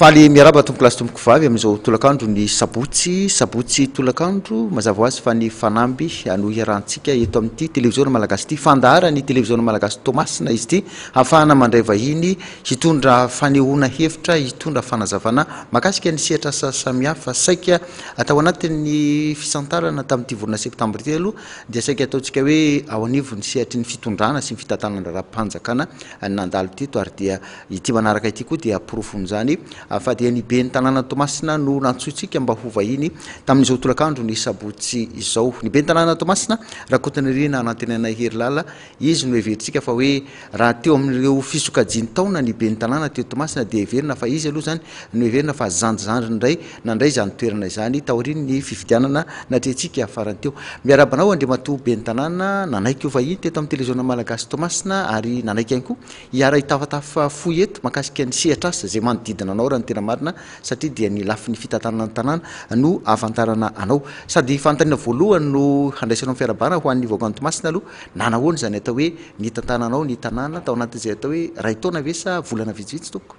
Faly miaraba tompokolahy sy tompokovavy amin'izao tolakandro ny sabotsy sabotsy tolakandro mazava ho azy fa ny fanamby no iarahantsika eto amin'ity televiziona malagasy ity fandaharan'ny televiziona malagasy Toamasina izy ity hafahana mandray vahiny hitondra fanehoana hevitra hitondra fanazavana makasika ny sehatra sasamihafa saika Tao anatin'ny fisantarana tamin'ity volana septambra ity aloha dia saika ataontsika hoe ao anivon'ny sehatry ny fitondrana sy ny fitantanandraharaham-panjakana ny nandalo teto ary dia ity manaraka ity koa dia porofon'izany fa dia ny ben'ny tanàna Toamasina no nantsointsika mba ho vahiny tamin'izao tolakandro ny sabotsy izao. Ny ben'ny tanàna Toamasina, Rakotonirina Anantenanay Herilala, Izy no heverintsika fa hoe raha teo amin'ireo fisokajian-taona ny ben'ny tanàna teo Toamasina dia heverina fa izy aloha izany no heverina fa zandrizandriny indray nandray izany toerana izany taorian'ny fifidianana natrehintsika farany teo. Miarahaba anao Andriamatoa ben'ny tanàna nanaiky ho vahiny teto amin'ny Televiziona Malagasy Toamasina ary nanaiky ihany koa hiara-hitafatafa fohy eto mahakasika ny sehatr'asa izay manodidina anao raha ny tena marina satria dia ny lafiny fitantanana ny tanàna no ahafantarana anao sady fanontaniana voalohany no handraisanao ny fiarahabana ho an'ny vahoakan'i Toamasina aloha Na nahoana izany atao hoe nitantananao ny tanàna tao anatin'izay atao hoe iray taona ve sa volana vitsivitsy tompoko?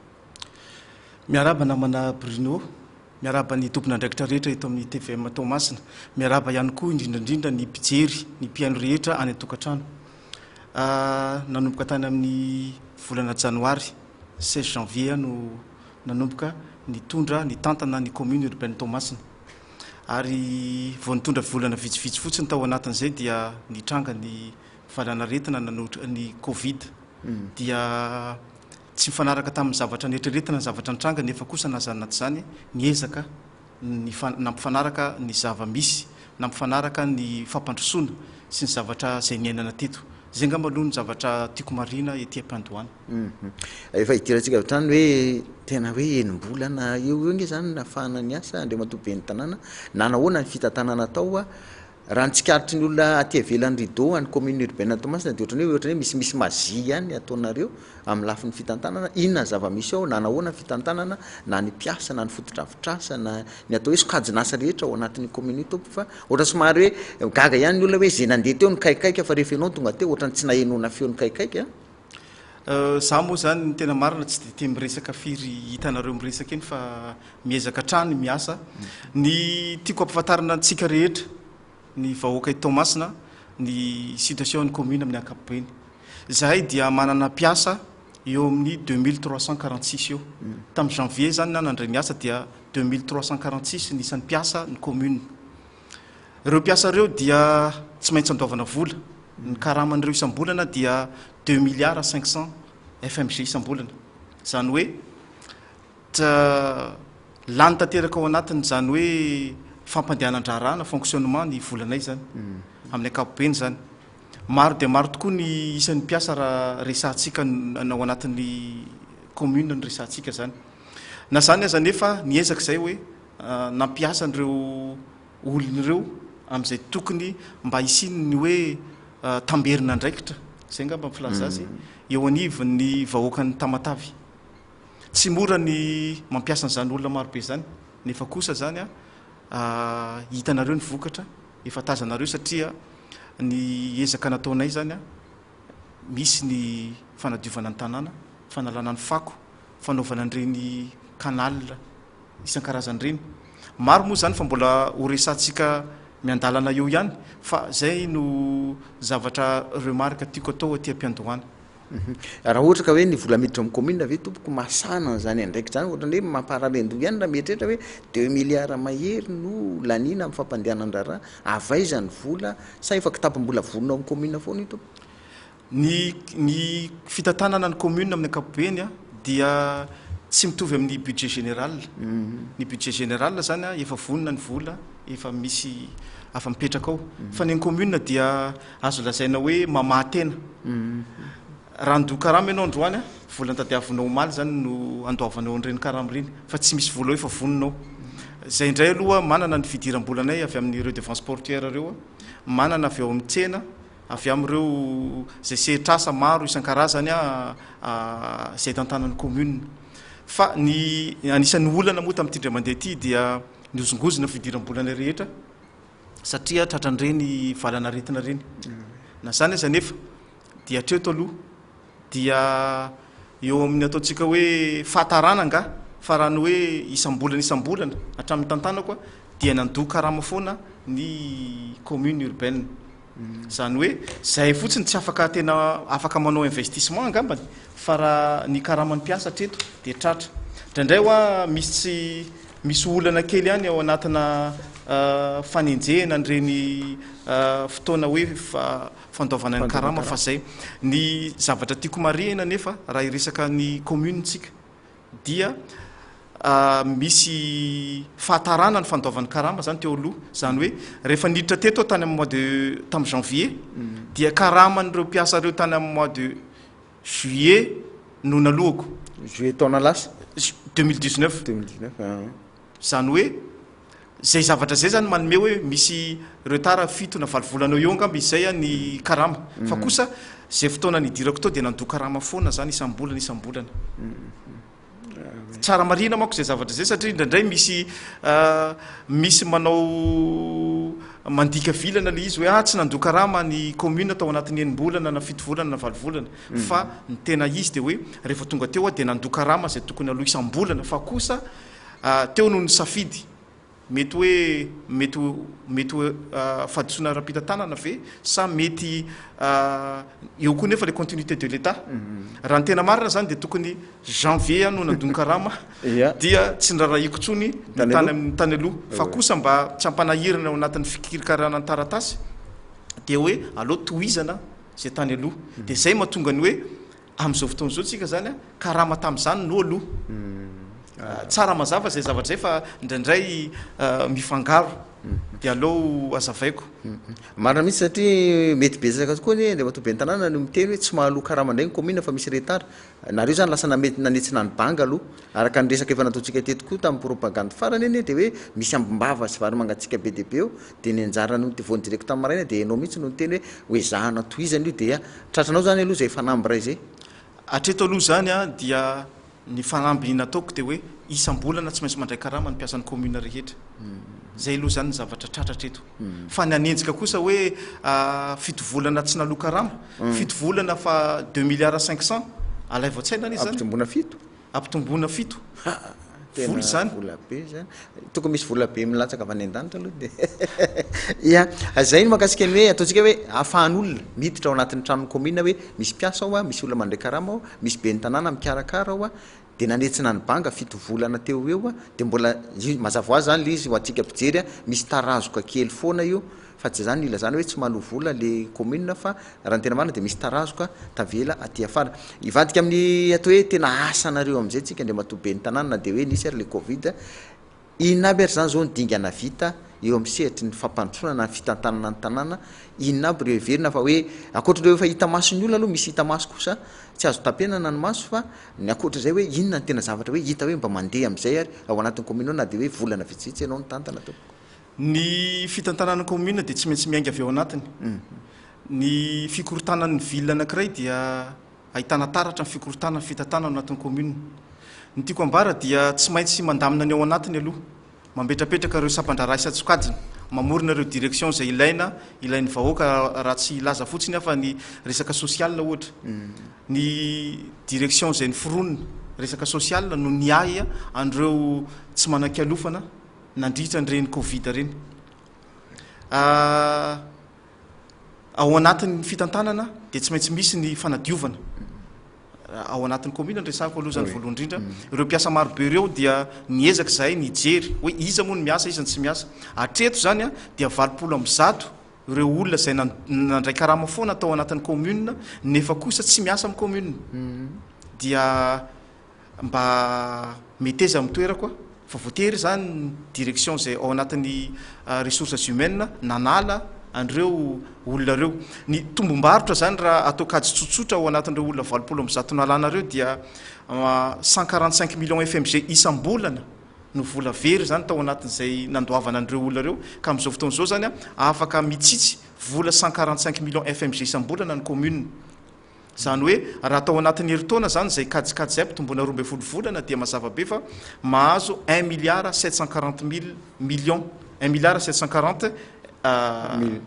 Miarahaba namana Bruno, miarahaba ny tompon'andraikitra rehetra eto amin'ny tvm Toamasina, miarahaba ihany koa indrindra indrindra ny mpijery, ny mpihaino rehetra any an-tokantrano. Nanomboka tany amin'ny volana janoary, 16 janvier, aho no nanomboka nitondra, nitantana ny commune urbaine Toamasina. ary vao nitondra volana vitsivitsy fotsiny tao anatin'izay dia nitranga ny valanaretina nanohitra ny covid dia tsy mifanaraka tamin'ny zavatra neritreretina ny zavatra nitranga nefa kosa na izany na tsy izany niezaka ny nampifanaraka ny zava-misy nampifanaraka ny fampandrosoana sy ny zavatra izay niainana teto izay angamba aloha ny zavatra tiako marihina ety am-pandohana Efa idirantsika avy hatrany hoe tena hoe enim-bolana eo ho eo ange izany nahafahana niasa Andriamatoa Ben'ny tanàna. Nanao ahoana ny fitantanana natao a? Raha ny tsikaritry ny olona aty ivelan'ny rideau an'ny commune urbaine an'i Toamasina dia ohatran'ny hoe ohatran'ny hoe misy misy magie ihany ataonareo amin'ny lafiny fitantanana. Inona ny zava-misy ao? Nanao ahoana ny fitantanana na ny mpiasa na ny fotodrafitrasa na ny atao hoe sokajin'asa rehetra ao anatin'io commune io Tompo fa ohatran'ny somary hoe gaga ihany ny olona hoe izay nandeha teo nikaikaika fa rehefa ianao no tonga teo ohatran'ny tsy nahenoana feo nikaikaika a? Za moa zany ny tena marina tsy de tia miresaka firy hitanareo miresaka eny fa miezaka hatrany miasa. Ny tiako ampifantarina antsika rehetra ny vahoaka i Toamasina ny situation ny commune amin'ny ankapobeny. Zahay dia manana mpiasa eo amin'ny deux mille trois cent quarante six eo. Tamin'ny janvier zany na nandray ny asa dia deux mille trois cent quarante six ny isan'ny mpiasa ny commune. Ireo mpiasa ireo dia tsy maintsy andoavana vola. Ny karaman'ireo isam-bolana dia deux milliards cinq cents FMG isam-bolana. Izany hoe ta- lany tanteraka ao anatin'izany hoe fampandehanan-draharaha na fonctionnement ny volanay izany, amin'ny ankapobeny izany. Maro dia maro tokoa ny isan'ny mpiasa raha resahantsika n- ny ao anatin'ny commune no resahantsika izany. Na izany aza anefa, niezaka izay hoe. nampiasa an'ireo olona ireo amin'izay tokony mba hisiany ny hoe tamberin'andraikitra, izay angamba ny filaza azy, eo anivon'ny vahoakan'i Tamatave. Tsy mora ny mampiasa an'izany olona maro be izany, nefa kosa izany hitanareo ny vokatra, efa tazanareo satria ny ezaka nataonay izany, misy ny fanadiovana ny tanàna, fanalana ny fako, fanaovana an'ireny canal. isan-karazany ireny. Maro moa izany fa mbola ho resahantsika miandalana eo ihany fa izay no zavatra remarque tiako atao aty am-piandohana. Raha ohatra ka hoe ny vola miditra amin'ny commune ve tompoko masana an'izany andraikitra izany ohatrany hoe mamparalendoha ihany raha mieritreritra hoe deux milliards mahery no laniana amin'ny fampandehanan-draharaha, avy aiza ny vola sa efa kitapom-bola vonona ao amin'ny commune foana io tompoko? Ny ny fitantanana ny commune amin'ny ankapobeny dia tsy mitovy amin'ny budget général. Ny budget général zany efa vonona ny vola, efa misy afa mipetraka ao. Fa ny an'ny commune dia azo lazaina hoe mamaha tena. Raha handoa karama ianao androany, vola notadiavinao omaly zany no andoavanao an'ireny karama ireny fa tsy misy vola efa vonona ao. Zay indray aloha manana ny fidiram-bolanay avy amin'ny redevances portuaires ireo, manana avy ao amin'ny tsena, avy amin'ireo izay sehatr'asa maro isan-karazany izay tantanan'ny commune. Fa ny anisan'ny olana moa tamin'ity indray mandeha ity dia nihozongozona ny fidiram-bolana rehetra satria tratran'ireny valan'aretina ireny. Na izany aza anefa dia hatreto aloha. dia eo amin'ny ataontsika hoe fahatarana angaha fa raha ny hoe isam-bolana isam-bolana hatramin'ny tantanako dia nandoa karama foana ny commune urbaine izany hoe izay fotsiny tsy afaka tena afaka manao investissement angambany fa raha ny karaman'ny mpiasa hatreto dia tratra indraindray hoa misy tsy misy olana kely ihany ao anatina euh, fanenjehana an'ireny euh, fotoana hoe fa fandoavana ny karama fa zay. Ny zavatra tiako marihina nefa raha hiresaka ny commune tsika dia misy fahatarana ny fandoavany karama zany teo aloha zany hoe rehefa niditra teto aho tany amin'ny mois de tamin'ny janvier mm. dia karaman'ireo mpiasa ireo tany amin'ny mois de juillet no nalohako juillet taona lasa 2019 2019 Izany hoe izay zavatra izay izany manome hoe misy retard fito na valo volana eo eo angamba izy izay ny karama. Fa kosa izay fotoana nidirako tao dia nandoa karama foana izany isam-bolana isam-bolana. Tsara marihina manko izay zavatra izay satria indraindray misy misy manao mandika vilana ilay izy hoe ah tsy nandoa karama ny commune tao anatin'ny enim-bolana na fito volana na valo volana. Fa ny tena izy dia hoe rehefa tonga teo aho dia nandoa karama izay tokony aloha isam-bolana fa kosa Teo no nisafidy. Mety hoe mety mety ho fahadisoana ara-pitantanana ve sa mety eo koa nefa le continuité de l'Etat. Raha ny tena marina zany dia tokony janvier aho no nandon karama dia tsy nirarahiako tsony ny tany ny tany aloha fa kosa mba tsy hampanahirana ao anatin'ny fikirikarana ny taratasy dia hoe aleo tohizana zay tany aloha dia zay mahatonga ny hoe Amin'izao fotoana izao tsika zany a, karama tamin'izany no aloha. Tsara mazava izay zavatra izay fa indraindray mifangaro. Dia aleo hazavaiko. Marina mihitsy satria mety betsaka tokoa anie Andriamatoa Ben'ny Tanàna no miteny hoe tsy mahaloa karama indray ny kaominina fa misy retard. Nareo izany lasa namety nanetsina ny banga aloha. Araka ny resaka efa nataontsika teto koa tamin'ny propagande farany anie dia hoe misy ambim-bava sy vary mangatsiaka be dia be eo dia ny anjara noho ny TV direct tamin'ny maraina dia ianao mihitsy no niteny hoe ho ezahana tohizana io dia tratranao izany aloha izay fanamby iray izay. Hatreto aloha izany dia ny fanamby nataoko dia hoe isam-bolana tsy maintsy mandray karama ny mpiasan'ny commune rehetra. Izay aloha izany ny zavatra tratra hatreto. Fa ny hanenjika kosa hoe fito volana tsy naloa karama, fito volana fa deux milliards cinq cents, alaivo an-tsaina anie izany. Ampitomboina fito? Ampitomboina fito. Ha, tena vola izany. Vola be izany. Tokony misy vola be milatsaka avy any an-danitra aloha dia. Ia, izay no makasika ny hoe ataontsika hoe ahafahan'olona miditra ao anatin'ny tranon'ny kaominina hoe misy mpiasa ao, misy olona mandray karama ao, misy ben'ny tanàna mikarakara ao, dia nanetsina ny banga fito volana teo ho eo, dia mbola mazava ho azy izany ilay izy ho antsika mpijery, misy tarazoka kely foana io. Fa tsy izany ilazana hoe tsy maloa vola le commune fa raha ny tena marina dia misy tarazoka tavela aty afara. Hivadika amin'ny atao hoe tena asanareo amin'izay tsika Andriamatoa Ben'ny tanàna na dia hoe nisy ary le covid. Inona aby ary izany izao ny dingana vita eo amin'ny sehatry ny fampandrosoana na ny fitantanana ny tanàna? Inona aby ireo heverina fa hoe ankoatr'ireo efa hita mason'ny olona aloha misy hita maso kosa tsy azo tapenana ny maso fa ny ankoatr'izay hoe inona ny tena zavatra hoe hita hoe mba mandeha amin'izay ary ao anatin'ny commune ao na dia hoe volana vitsivitsy ianao nitantana tompoko? Ny fitantanan'ny kaominina dia tsy maintsy miainga avy ao anatiny. Ny fikorontanan'ny ville anankiray dia ahitana taratra ny fikorontanan'ny fitantanana ao anatin'ny kaominina. Ny tiako ambara dia tsy maintsy mandamina ny ao anatiny aloha, mambetrapetraka ireo sampandraharaha isan-tsokajiny, mamorona ireo direction izay ilaina, ilain'ny vahoaka raha tsy hilaza fotsiny aho fa ny resaka social ohatra. Ny direction izay noforonina resaka social no niahy an'ireo tsy manan-kialofana nandritra an'ireny covid ireny. Ao anatin'ny fitantanana dia tsy maintsy misy ny fanadiovana ao anatin'ny commune ny resako aloha izany voalohany indrindra. Mm. Ireo mpiasa marobe ireo dia niezaka izahay nijery hoe iza moa ny miasa, iza ny tsy miasa. Hatreto izany a dia valopolo amby zato ireo olona izay nandray karama foana tao anatin'ny commune nefa kosa tsy miasa amin'ny commune. Mm. Dia mba meteza amin'ny toerako a, fa voatery izany ny direction izay ao anatin'ny ressources humaines nanala an'ireo olona ireo. Ny tombom-barotra izany raha atao kajy tsotsotra ao anatin'ireo olona valopolo amby zato nalana ireo dia cent quarante cinq millions FMG isam-bolana no vola very izany tao anatin'izay nandoavana an'ireo olona ireo, ka amin'izao fotoana izao izany a afaka mitsitsy vola cent quarante cinq millions FMG isam-bolana ny commune. Izany hoe, raha tao anatin'ny herintaona izany izay kajikajy izay ampitomboina roa ambin'ny folo volana dia mazava be fa mahazo un milliard sept cent quarante mille millions, un milliard sept cent quarante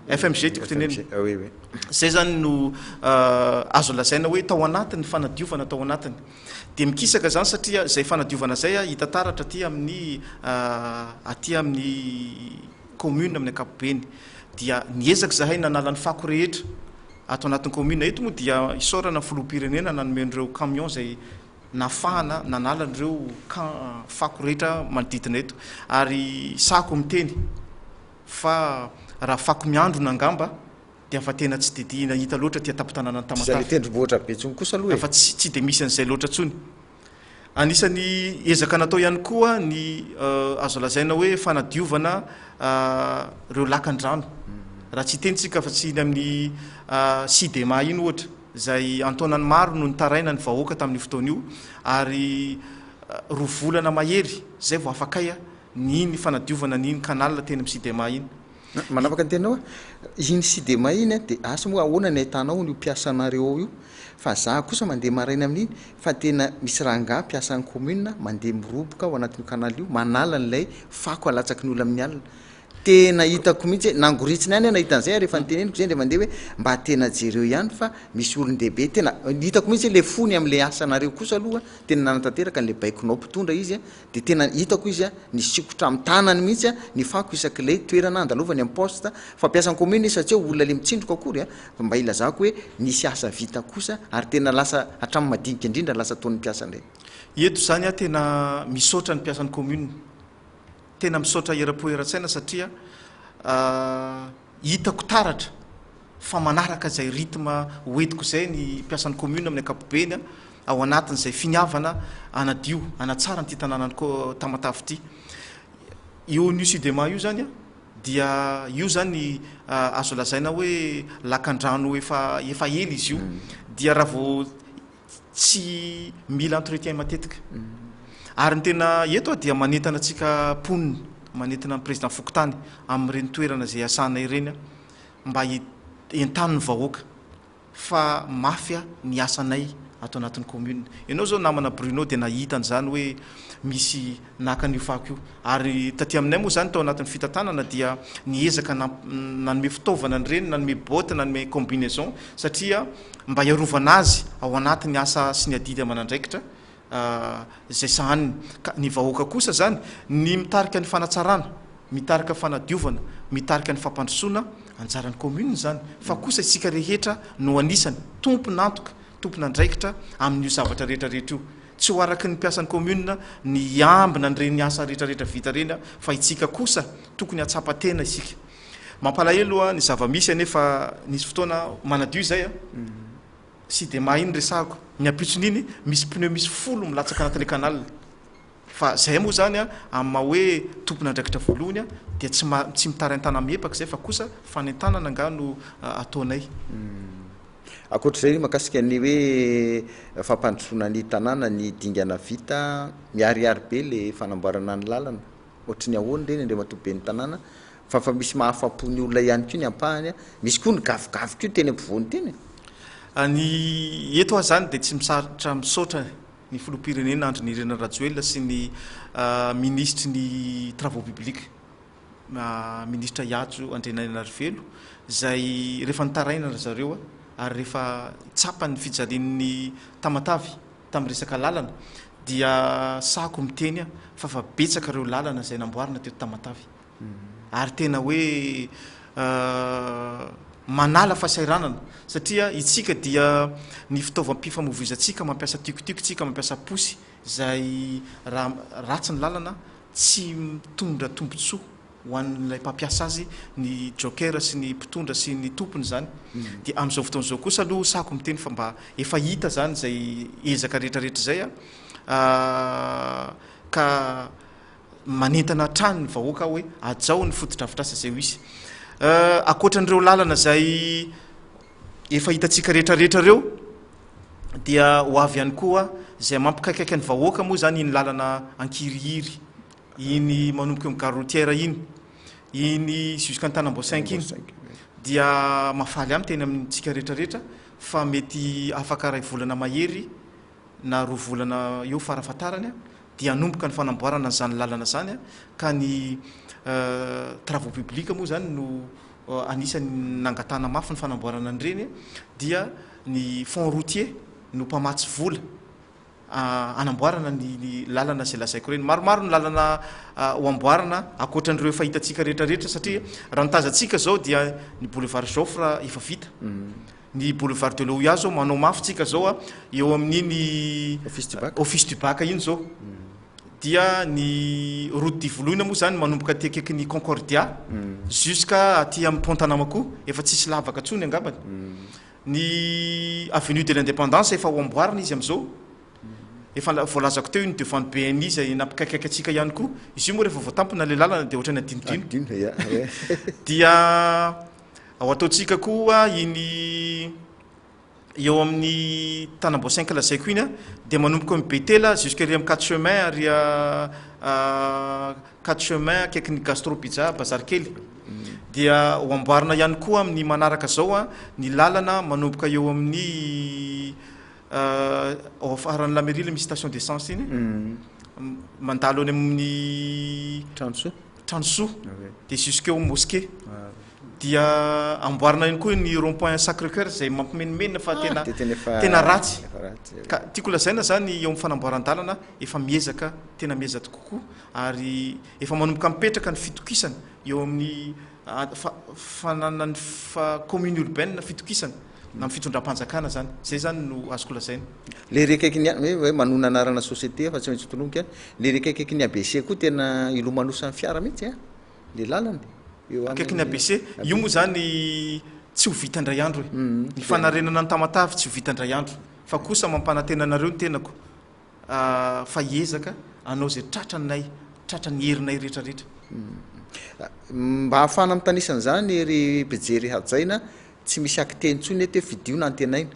FMG tiako tenenina. Izay izany no azo lazaina hoe tao anatin'ny fanadiovana tao anatiny. Dia mikisaka izany satria izay fanadiovana izay hita taratra aty amin'ny aty amin'ny. commune amin'ny ankapobeny dia niezaka izahay nanala ny fako rehetra ato anatin'ny commune eto moa dia isaorana ny filoham-pirenena nanome an'ireo camion izay nafahana nanala an'ireo can fako rehetra manodidina eto ary sahako miteny fa raha fako miandrona angamba dia fa tena tsy dia hita loatra aty an-tampon-tanànan'i Tamatave. Izay ny tendrombohitra Betsony kosa aloha e! Fa tsy tsy dia misy an'izay loatra intsony. Anisan'ny ezaka natao ihany koa ny azo lazaina hoe fanadiovana ireo lakan-drano. Raha tsy hiteny isika fa tsy iny amin'ny Sidema iny ohatra, izay an-taonany maro no nitaraina ny vahoaka tamin'io fotoana io, ary roa volana mahery izay vao afaka ny iny fanadiovana ny iny canal teny amin'ny Sidema iny. Manapaka ny teninao aho, iny sy demain iny an, dia asa moa ahoana ny ahitana ao io mpiasanareo ao io, fa za kosa mandeha maraina amin'iny fa tena misy rangahy mpiasan'ny commune mandeha miroboka ao anatin'io canal io manala an'ilay fako alatsaky ny olona amin'ny alina, tena hitako mihitsy hoe nangoritsiny any aho nahita an'izay ary efa noteneniko izay indray mandeha hoe mba tena jereo ihany fa misy olon-dehibe tena hitako mihitsy hoe ilay fony amin'ilay asanareo kosa aloha tena nanatanteraka an'ilay baikonao mpitondra izy an, Dia tena hitako izy an, nisikotra amin'ny tanany mihitsy an, ny fako isak'ilay toerana andalovany amin'ny poste, fa mpiasan'ny commune izy fa tsy hoe olona le mitsindroka akory an, fa mba ilazako hoe nisy asa vita kosa ary tena lasa hatramin'ny madinika indrindra lasa toa ny mpiasa indray. Eto izany aho tena misaotra ny mpiasan'ny commune, tena misaotra eram-po eran-tsaina satria. Hitako taratra fa manaraka izay rythme hoentiko izay ny mpiasan'ny commune amin'ny ankapobeny ao anatin'izay finiavana hanadio, hanatsara an'ity tanànan'i Tamatave ity. Io an'io Sudema io izany dia io izany azo lazaina hoe lakandrano efa efa ela izy io. Dia raha vao tsy mila entretien matetika ary ny tena eto dia manentana antsika mponina manentana ny président fokontany amin'ireny toerana izay iasana ireny mba entanin'ny vahoaka fa mafy ny asanay ato anatin'ny commune ianao zao namana Bruno dia nahita an'izany hoe misy naka an'io fako io ary taty aminay moa izany tao anatin'ny fitantanana dia ny ezaka nanome fitaovana an'ireny nanome botte nanome combinaison satria mba hiarovana azy ao anaty ny asa sy ny adidy aman'andraikitra izay sahaniny. Ka ny vahoaka kosa izany, ny mitarika ny fanatsarana, mitarika fanadiovana, mitarika ny fampandrosoana, anjaran'ny commune izany, fa kosa isika rehetra no anisany tompon'antoka, tompon'andraikitra amin'io zavatra rehetra rehetra io. Tsy ho araky ny mpiasan'ny commune ny hiambina an'ireny asa rehetra rehetra vita ireny fa itsika kosa tokony hatsapa tena isika. Mampalahelo ny zava-misy anefa nisy fotoana aho manadio izay a! tsy dia mahay ny resahako, ny ampitson'iny misy pneu misy folo milatsaka anatin'ilay canal, fa izay moa izany a! amin'ny maha hoe tompon'andraikitra voalohany a! dia tsy ma tsy mitarain-tana amin'ny epaka izay fa kosa fanentanana angaha no ataonay. Ankoatr'izay mahakasika ny hoe fampandrosoana ny tanàna, ny dingana vita, miharihary be ilay fanamboarana ny lalana, Ohatry ny ahoana ireny Andriamatoa Ben'ny tanàna fa fa misy mahafapo ny olona ihany koa ny ampahany a! Misy koa ny gavogavo koa teny ampovoany teny e! Ny eto aho izany dia tsy misarotra misaotra ny Filoham-pirenena Andry Nirina Rajoelina sy ny Minisitry ny Travaux publics, Minisitra Ihajo Andrianainarivelo izay rehefa nitaraina ry zareo ary rehefa tsapa ny fijalian'ny Tamatave, tamin'ny resaka lalana dia sahako miteny aho fa fa betsaka ireo lalana izay namboarina teto Tamatave ary tena hoe manala fasairanana satria itsika dia ny fitaovam-pifamovoizantsika mampiasa tiokotiko itsika mampiasa posy izay raha ratsy ny lalana tsy mitondra tombontsoa ho an'ilay mpampiasa azy ny joker sy ny mpitondra sy ny tompony izany dia amin'izao fotoana izao kosa aloha sahako miteny fa mba efa hita izany izay ezaka rehetrarehetra izay a ka manentana hatrany ny vahoaka hoe hajao ny fotodrafitrasa izay ho izy ankoatran'ireo lalana izay efa hitantsika rehetrarehetra ireo dia ho avy ihany koa izay mampikaikaika ny vahoaka moa izany iny lalana ankirihiry iny manomboka eo gare routière iny, iny jusqu'Antanamboasainky iny dia mahafaly ahy miteny amintsika rehetra rehetra fa mety afaka iray volana mahery na roa volana eo fara fahatarany dia hanomboka ny fanamboarana an'izany lalana izany ka ny travaux publics moa izany no anisan'ny nangatahana mafy ny fanamboarana an'ireny dia ny fonds routier no mpamatsy vola. hanamboarana ny lalana izay lazaiko ireny. Maromaro ny lalana ho amboarina ankoatran'ireo efa hitantsika rehetra rehetra satria mm. raha ny tazantsika izao dia ny boulevard Joffre efa vita. Mm. ny boulevard de l'OUA zao manao mafy tsika zao a eo amin'iny office du bac iny zao mm. dia ny route du voloina moa zany manomboka aty akaiky ny concordia mm. jusqu'à aty amin'ny pont tanamako efa tsisy lavaka tsony angambany mm. Ny avenue de l'independance efa ho amboarina izy amin'izao, efa la- voalazako teo iny devant ny BNI izay nampikaikaika antsika ihany koa. Izy io moa rehefa voatampina ilay lalana dia ohatran'ny adinodino. Adino, ia, ouais. Dia ho ataontsika koa iny eo amin'ny tanam-boasainky lazaiko iny a, dia manomboka eo amin'ny Betela jusqu'ery amin'ny quatre chemins ary a Quatre chemins akaiky ny gastro pizza bazary kely dia ho amboarina ihany koa amin'ny manaraka izao ny lalana manomboka eo amin'ny ao afaran'ny la mairie ilay misy station d'essence iny mandalo any amin'ny tranosoa tranosoa dia jusqu'eo mosquée dia amboarina ihany koa ny rond point sacré coeur izay mampimenomenona fa tena tena ratsy ka tiako lazaina izany eo amin'ny fanamboaran-dalana efa miezaka tena miezaka kokoa ary efa manomboka mipetraka ny fitokisana eo amin'ny fananan'ny commune urbaine fitokisana na amin'ny fitondram-panjakana zany, zay zany no azoko lazaina. Ilay rekaiky ny hoe hoe manonona anarana société fa tsy maintsy tolonika an, ilay rekaikaiky ny ABC koa tena ilomanosan'ny fiara mihitsy an, ilay lalana eo amin'ny Akaiky ny ABC, io moa zany tsy ho vita indray andro e, ny fanarenana ny Tamatave tsy ho vita indray andro fa kosa mampanantena anareo ny tenako fa hiezaka hanao izay tratranay, tratran'ny herinay rehetrarehetra. Mba hahafahana mitanisa an'izany ry mpijery hajaina, tsy misy acte intsony eto hoe fidio na antenaina.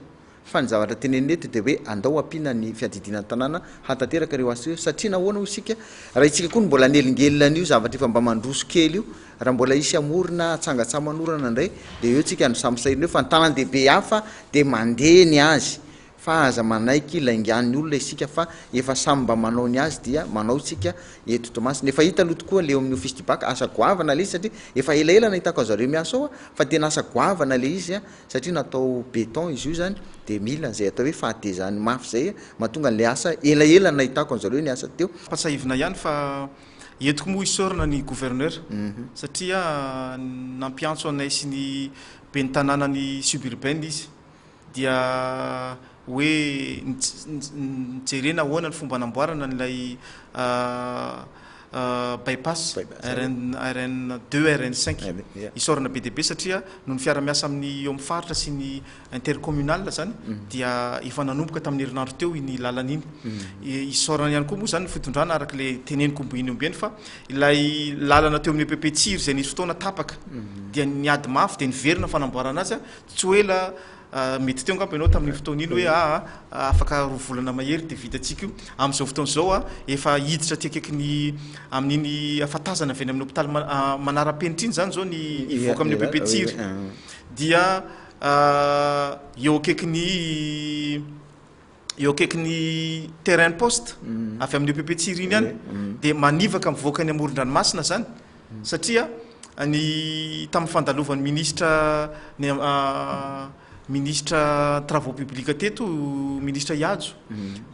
Fa ny zavatra tenenina eto dia hoe andao hampiana ny fiadidiana ny tanàna hahatateraka ireo asa ireo. Satria nahoana hoy isika, raha itsika koa no mbola hanelingelina an'io zavatra efa mba mandroso kely io, raha mbola hisy hamorona hatsanga-tsamanorana indray dia eo tsika no samy sahirana eo fa ny tanàn-dehibe hafa dia mandeha ny azy. Fa aza manaiky laingan'ny olona isika fa efa samy mba manao ny azy dia manao isika eto Toamasina. Efa hita aloha tokoa le eo amin'ny office du bac, asa goavana le izy satria efa elaela nahitako azy zareo miasa ao aho fa tena asa goavana le izy a! satria natao beton izy io zany de mila an'izay atao hoe fahatezany mafy zay a! mahatonga le asa elaela nahitako an'zareo niasa teo. Ampatsahivina ihany fa entiko moa hisaorana ny gouverneur satria nampiantso anay sy ny ben'ny tanànan'i suburbaine izy. dia hoe jerena ahoana ny fomba hanamboarana an'ilay bypass RN RN deux RN cinq isaorana be dia be satria noho ny fiara-miasa amin'ny eo amin'ny faritra sy ny intercommunal zany dia efa nanomboka tamin'ny herinandro teo iny lalana iny isaorana ihany koa moa zany ny fitondrana araka ilay teneniko omby iny omby eny fa ilay lalana teo amin'ny EPP Tsiry izay nisy fotoana tapaka dia niady mafy dia niverina ny fanamboarana azy Tsy ho ela, mety teo angamba ianao tamin'iny fotoana iny hoe aa, afaka roa volana mahery dia vita antsika io. Amin'izao fotoana izao a, efa hiditra aty akaikin'ny, amin'iny hafatazana avy any amin'ny hopitaly manara-penitra iny izany izao ny hivoaka amin'io bebe tsiry. Dia eo akaikin'ny eo akaikin'ny terrain poste avy amin'io PP Tsiry iny ihany dia manivaka mivoaka any amoron-dranomasina zany satria ny tamin'ny fandalovan'ny ministra ny ministra travaux publics teto ministra Ihajo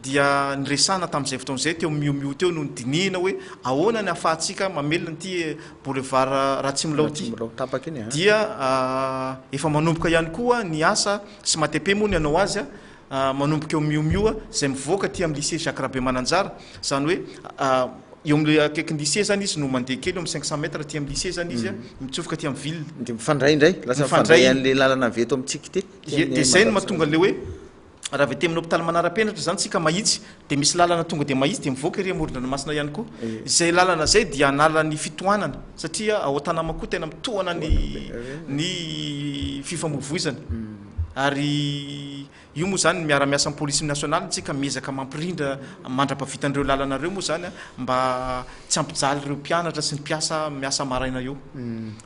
dia niresahana tamin'izay fotoana izay teo mio mio teo no nidinihina hoe ahoana ny afahantsika mamelona ity boulevard Ratsimilao ity dia efa manomboka ihany koa ny asa sy matepe moa ny anao azy manomboka eo Mio Mio izay mivoaka aty amin'ny lycée Jacques Rabemananjara, izany hoe eo amin'ilay akaikin'ny lycée izany izy no mandeha kely eo amin'ny cinq cent mètres aty amin'ny lycée izany izy, mitsofoka aty amin'ny ville. Dia mifandray indray, lasa mifandray an'ilay lalana avy eto amintsika ity. Dia izay no mahatonga an'ilay hoe raha avy aty amin'ny hopitaly manara-penatra izany isika mahitsy Dia misy lalana tonga dia mahitsy dia mivoaka ery amoron-dranomasina ihany koa. Izay lalana izay dia hanala ny fitohanana satria ao Tanama koa tena mitohana ny ny fifamoivoizana. Ary io moa izany miara-miasa amin'ny police nationale isika miezaka mampirindra mandra-pahavita an'ireo lalana ireo moa izany mba tsy hampijaly ireo mpianatra sy ny mpiasa miasa maraina eo.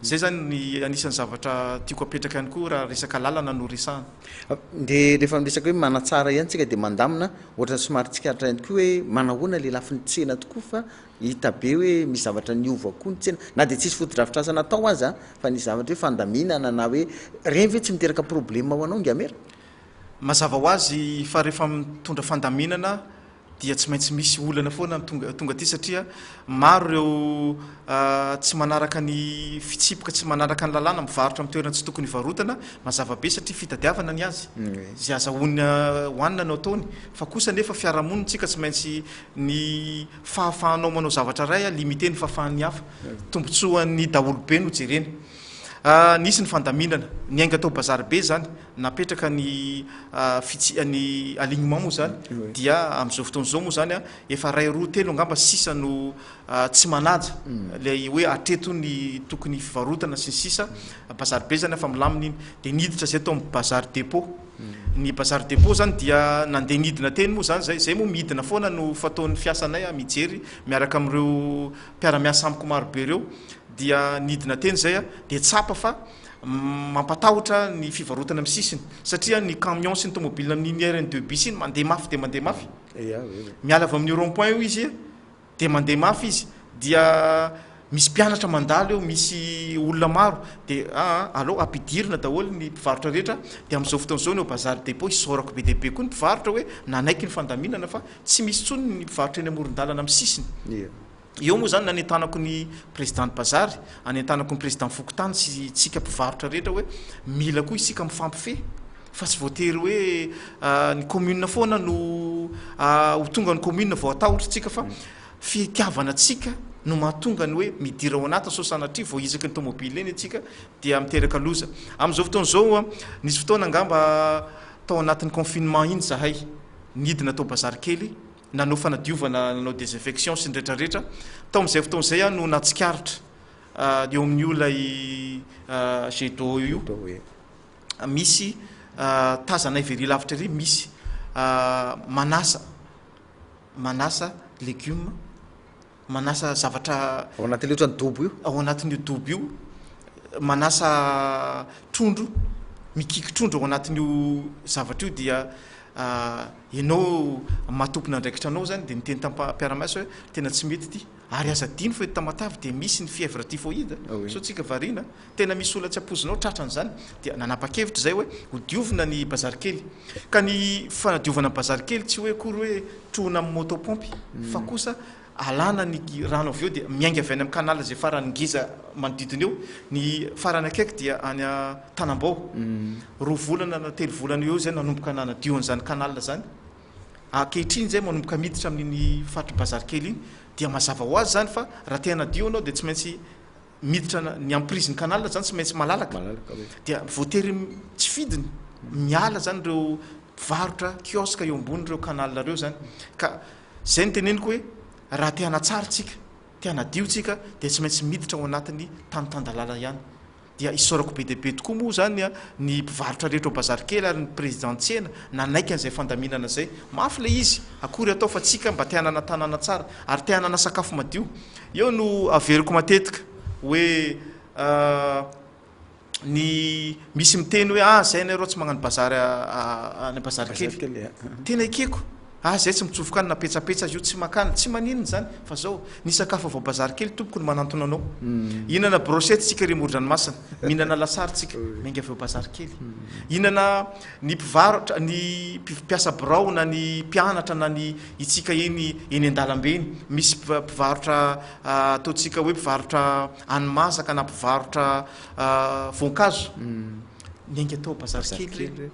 Izay izany ny anisan'ny zavatra tiako apetraka ihany koa raha resaka lalana no resahana. Dia rehefa miresaka hoe manatsara ihany tsika dia mandamina, ohatrany somary tsikaritra ihany koa hoe manahoana ilay lafiny tsena tokoa fa hita be hoe misy zavatra niova koa ny tsena. Na dia tsisy fotodrafitrasa natao aza fa nisy zavatra hoe fandaminana na hoe ireny ve tsy miteraka problema ho anao Ingamera? Mazava ho azy fa rehefa mitondra fandaminana dia tsy maintsy misy olana foana ny tonga tonga aty satria maro ireo tsy manaraka ny fitsipoka tsy manaraka ny lalàna mivarotra amin'ny toerana tsy tokony hivarotana mazava be satria fitadiavana ny azy izay azahoana hohanina no ataony fa kosa nefa fiarahamonintsika tsy maintsy ny fahafahanao manao zavatra iray a limite ny fahafahan'ny hafa tombontsoan'ny daholobe no jerena nisy ny fandaminana ny ainga tao bazary be izany napetraka ny fits ny alignement moa zany dia amin'izao fotoana izao moa zany efa ray roa telo angamba sisa no tsy manaja ilay hoe hatreto ny tokony fivarotana sy ny sisa bazary be zany afa milamina iny dia niditra zay tao amin'ny bazary dépôt ny bazary dépôt zany dia nandeha nidina teny moa zany zay zay moa midina foana no fataon'ny fiasanay a mijery miaraka amin'ireo mpiara-miasa amiko marobe ireo dia nidina teny zay a dia tsapa fa Mampatahotra ny fivarotana amin'ny sisiny satria ny camion sy ny tomobilina amin'iny rn deux bis iny mandeha mafy dia mandeha mafy. Miala avy amin'io rond point io izy dia mandeha mafy izy dia misy mpianatra mandalo eo, misy olona maro dia aa aleo ampidirina daholo ny mpivarotra rehetra dia amin'izao fotoana izao ny ao Bazary Depot isaorako be dia be koa ny mpivarotra hoe nanaiky ny fandaminana fa tsy misy intsony ny mpivarotra eny amoron-dalana amin'ny sisiny. Eo moa izany nanentanako ny Président bazary, anentanako ny Président fokontany sy tsika mpivarotra rehetra hoe mila koa isika mifampifehy fa tsy voatery hoe ny commune foana no ho tonga ny commune vao hatahotra tsika fa fitiavana tsika no mahatonga ny hoe midira ao anaty sao sanatria vao hizaky ny tomobile eny tsika dia miteraka loza. Amin'izao fotoana izao nisy fotoana angamba tao anatin'ny confinement iny zahay nidina tao bazary kely, nanao fanadiovana, nanao desinfection sy ny rehetra rehetra, tao amin'izay fotoana izay aho no natsikaritra eo amin'io ilay jet d'eau io misy tazanay very lavitra ery misy manasa manasa legioma manasa zavatra ao anatin'io ohatran'ny dobo io, ao anatin'io dobo io, manasa trondro, mikiky trondro ao anatin'io zavatra io dia ah, ianao maha-tompon'andraikitra anao zany dia miteny tam-piara-maisa hoe tena tsy mety ity, ary aza adino fa eto Tamatave dia misy ny fièvre typhoïde, sao tsika variana, tena misy olona tsy ampoizinao tratran'izany dia nanapa-kevitra izay hoe hodiovina ny bazary kely. Ka ny fanadiovana ny bazary kely tsy hoe akory hoe trohina amin'ny moto pompe fa hmm. kosa alana ny rano avy eo dia miainga avy any amin'ny kanala izay farany ngeza manodidina eo ny farany akaiky dia any tanambao hmm. roa volana na telo volana eo izay nanomboka nanadio an'izany kanala zany ankehitriny zay manomboka miditra amin'iny faritry bazary kely iny dia mazava ho azy zany fa raha te hanadio anao dia tsy maintsy miditra ny emprise ny canal zany tsy maintsy malalaka dia voatery tsy fidiny miala zany ireo mpivarotra kiosque eo ambony ireo canal ireo zany ka zay ny teneniko hoe raha te hanatsara tsika te hanadio tsika dia tsy maintsy miditra ao anatiny tany tandalala ihany dia isaorako be dia be tokoa moa zany ny mpivarotra rehetra ao bazary kely ary ny président tsena nanaiky an'izay fandaminana izay mafy le izy akory atao fa tsika mba te hanana tanàna tsara ary te hanana sakafo madio Eo no averiko matetika hoe ny misy miteny hoe ah zay nareo tsy magnano bazary any bazary kely. Tena ekeko. Ah zay tsy mitsofoka any na petsapetsa azy io tsy makany. Tsy maninona zany fa zao ny sakafo avy ao bazary kely tompoko no manantona anao. Hinana brochette tsika ry morodranomasina, mihinana lasary tsika miainga avy ao bazary kely. Hinana ny mpivarotra ny mpiasa birao na ny mpianatra na ny. Hitsika eny eny an-dalambe eny, misy mpiva mpivarotra ataontsika hoe mpivarotra hani-masaka na mpivarotra voankazo, niainga tao bazary kely ireny.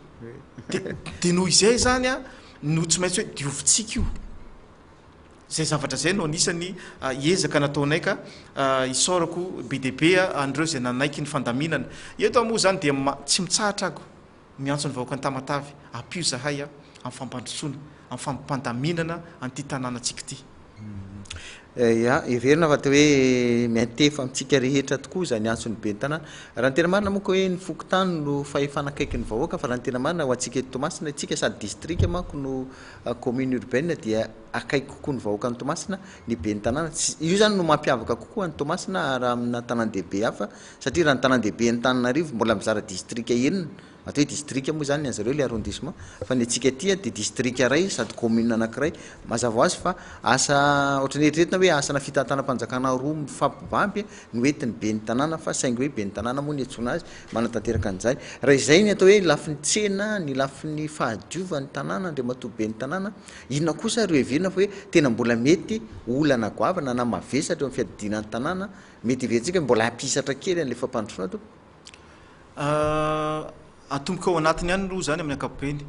De de noho izay izany a no tsy maintsy hoe diovintsika io. Zay zavatra zay no anisan'ny ezaka nataonay ka isaorako be dia be an'ireo izay nanaiky ny fandaminana. Eto aho moa izany dia ma tsy mitsahatra aho. Miantso ny vahoaka Antamatave, ampio zahay a, am fampandrosoana, am fampandaminana an'ity tanànantsika ity. Ya, heverina fa teo hoe miantefa amintsika rehetra tokoa izany antson'ny ben'ny tanàna. Raha ny tena marina moa ka hoe ny fokontany no fahefana akaiky ny vahoaka fa raha ny tena marina ho antsika eto Toamasina, isika sady distrika manko no commune urbaine dia akaiky kokoa ny vahoaka any Toamasina ny ben'ny tanàna. Io izany no mampiavaka kokoa an'i Toamasina raha amina tanàn-dehibe hafa satria raha ny tanandehiben'Antananarivo mbola mizara distrika enina, atao hoe distrika moa izany ny anzareo ilay arrondissement, fa ny antsika aty dia distrika iray sady commune anankiray, mazava ho azy fa asa ohatran'ny eritreretina hoe asana fitantanam-panjakana roa mifampibamby no entin'ny ben'ny tanàna fa saingy hoe ben'ny tanàna moa no iantsoana azy manatanteraka an'izany. Raha izay ny atao hoe lafiny tsena, ny lafiny fahadiovan'ny tanàna, Andriamatoa ben'ny tanàna, inona kosa ary ro heverina fa hoe tena mbola mety ho olana goavana na mavesatra eo amin'ny fiadidiana ny tanàna, Mety heverintsika mbola hampisatra kely an'ilay fampandrosoana tompoko. Ah, atomboka ao anatiny ihany aloha izany amin'ny ankapobeny.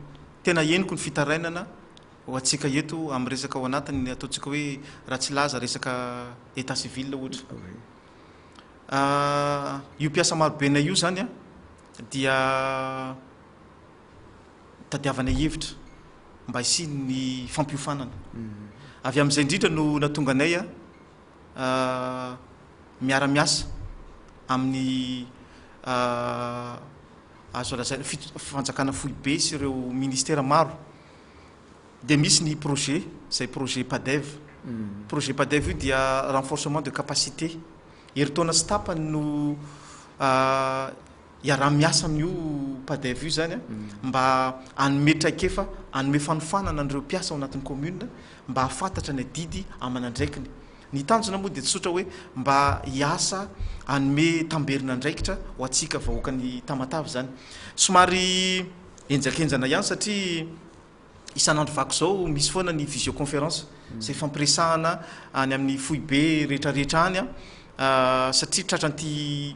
Tena henoko ny fitarainana ho antsika eto amin'ny resaka ao anatiny ny ataontsika hoe raha tsy laza resaka état civil ohatra. Ah, io mpiasa marobenay io izany an, dia tadiavanay hevitra mba hisian'ny fampiofanana. Avy amin'izay indrindra no nahatonga anay an, miara-miasa amin'ny azo lazaina fanjakana foibe sy ireo ministera maro dia misy ny projet izay projet PADEV. Hmm. Projet PADEV io dia renforcement de capacité. Herintaona sy tapany no iaraha-miasa amin'io Padef io izany mba hanome traikefa, hanome fanofanana an'ireo mpiasa ao anatin'ny commune mba hahafantatra ny adidy aman'andraikiny. Ny tanjona moa dia tsy tsotra hoe mba hiasa hanome tamberin'andraikitra ho antsika vahoakan'i Tamatave izany. Somary henjakenjana ihany satria Isan'andro vaky izao misy foana ny visioconférence izay fampiresahana any amin'ny foibe rehetrarehetra any satria tratran'ity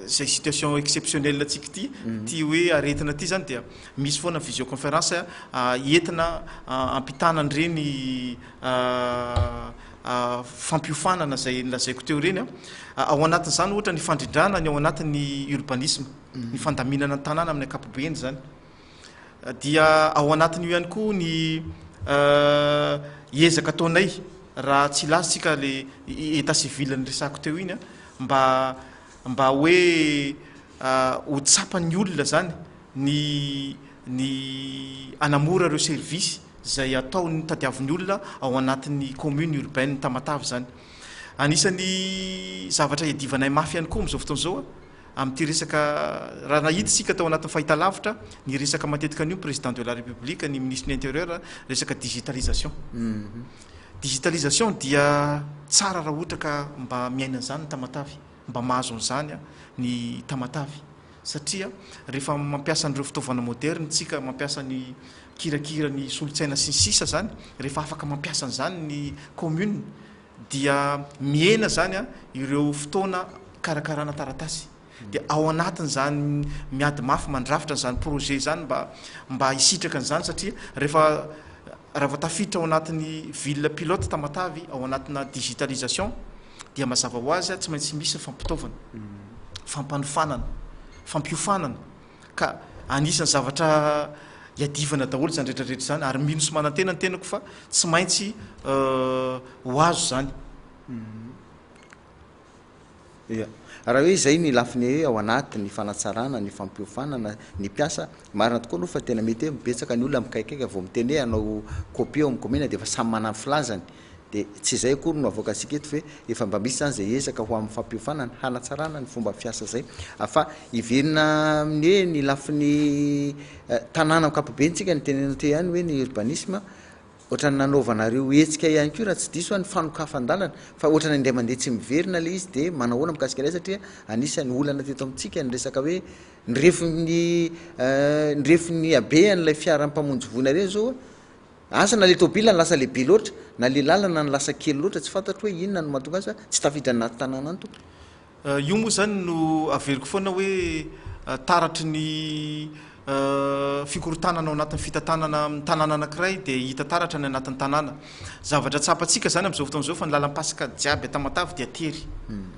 izay situation exceptionnelle antsika ity mhm. ity hoe aretina ity zany dia misy foana visioconférence ah, entina ah, ampitana an'ireny ah, fampiofanana izay nolazaiko teo ireny ao anatin'izany ohatra ny fandrindrana ny ao anatin'ny urbanisme ny fandaminana ny tanàna amin'ny ankapobeny izany dia ao anatin'io ihany koa ny eh, ezaka ataonay raha tsy latsika le eta civil ny resako teo iny a mba mba hoe eh, ho tsapan'ny olona zany ny ny anamora ireo service izay ataon'ny tadiavin'ny olona ao anatin'ny commune urbaine tamatavy zany anisan'ny zavatra iadivanay mafy ihany koa amin'izao fotoana izao a Amin'ity resaka, raha nahita isika tao anatin'ny fahitalavitra, ny resaka matetika an'io Président de la République, ny Minisitry ny Intérieur, resaka digitalisation. Digitalisation dia tsara raha ohatra ka mba miaina an'izany ny Tamatave, mba mahazo an'izany ny Tamatave. Satria rehefa mampiasa an'ireo fitaovana moderne isika, mampiasa ny kirakira, ny solon-tsaina sy ny sisa izany, rehefa afaka mampiasa an'izany ny commune, dia mihena izany ireo fotoana hikarakarana taratasy dia ao anatin'izany miady mafy mandrafitra an'izany projet izany mba mba hisitraka an'izany satria rehefa raha vao tafiditra ao anatin'ny ville pilote Tamatave ao anatina digitalisation dia mazava ho azy tsy maintsy misy ny fampitaovana fampanofanana fampiofanana Ka anisan'ny zavatra iadivana daholo izany rehetra rehetra izany, ary mino sy manantena ny tenako fa tsy maintsy ho azo izany. Ia. Raha hoe izay ny lafiny hoe ao anaty, ny fanatsarana, ny fampiofanana ny mpiasa, marina tokoa aloha fa tena mety hoe betsaka ny olona mikaikaika vao mitenea hanao copie ao amin'ny kaominina dia efa samy manana ny filazany. Dia tsy izay akory no avoakantsika eto ve? Efa mba misy izany izay ezaka ho amin'ny fampiofanana, hanatsarana ny fomba fiasa izay. Fa hiverina amin'ny hoe ny lafiny tanàna ankapobeny tsika no itenenana teo ihany hoe ny urbanisme, ohatran'ny nanaovanareo hetsika ihany koa raha tsy diso aho ny fanokafan-dalana, fa ohatran'ny indray mandeha tsy miverina ilay izy, dia manao ahoana mikasika ilay izy satria anisan'ny olana teto amintsika ny resaka hoe ny refin'ny ny refin'ny habehan'ilay fiara mpamonjy voina ireny izao a, Asa na le tôbila no lasa lehibe loatra na le lalana no lasa kely loatra tsy fantatro hoe inona no mahatonga azy fa tsy tafiditra anaty tanàna ny tompoko. Io moa izany no averiko foana hoe taratry ny fikorontanana ao anatin'ny fitantanana amin'ny tanàna anankiray dia hita taratra ny anatin'ny tanàna. Zavatra tsapantsika izany amin'izao fotoana izao fa ny lalam-pasika jiaby an-tamatave dia tery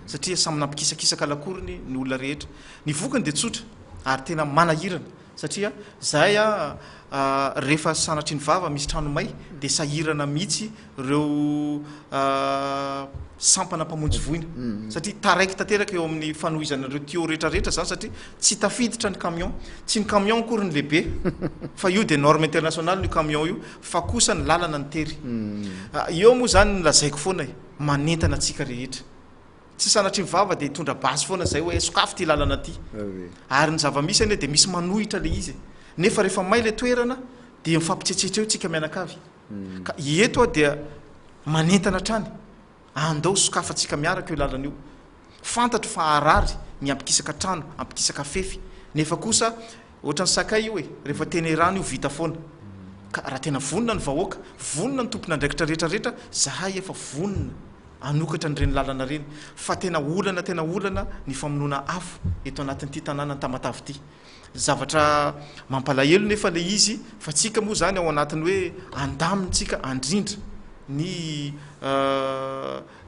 satria samy nampikisakisaka lakorony ny olona rehetra. Ny vokany dia tsotra ary tena manahirana. Satria zahay a refa sanatrin vava misy trano may de sahirana mihitsy reo sampana mpamonjy voina satria taraiky tanteraka eo amin'ny fanohizana an'ireo tuyau rehetra rehetra zany satria tsy tafiditra ny camion tsy ny camion akory ny lehibe fa io de norme internationale io camion io fa kosa ny lalana ny tery eo moa zany ny lazaiko foana e manentana antsika rehetra Tsy sanatria ny vava dia hitondra basy foana izay hoe sokafy ity lalana ity. Ary ny zava-misy anie dia misy manohitra ilay izy e. Nefa rehefa may ilay toerana dia mifampitsetsetra eo tsika mianakavy. Hmm. Ka eto aho dia manentana hatrany, andao sokafantsika miaraka io lalana io. Fantatro fa harary ny hampikisaka trano, hampikisaka fefy, nefa kosa Ohatran'ny sakay io e, rehefa tenerana io vita foana. Ka raha tena vonona ny vahoaka, vonona ny tompon'andraikitra rehetra rehetra, zahay efa vonona hanokatra an'ireny lalana ireny, fa tena olana tena olana ny famonoana afo eto anatin'ity tanànan'i Tamatave ity. Zavatra mampalahelo nefa ilay izy fa tsika moa izany ao anatin'ny hoe andamintsika andrindra ny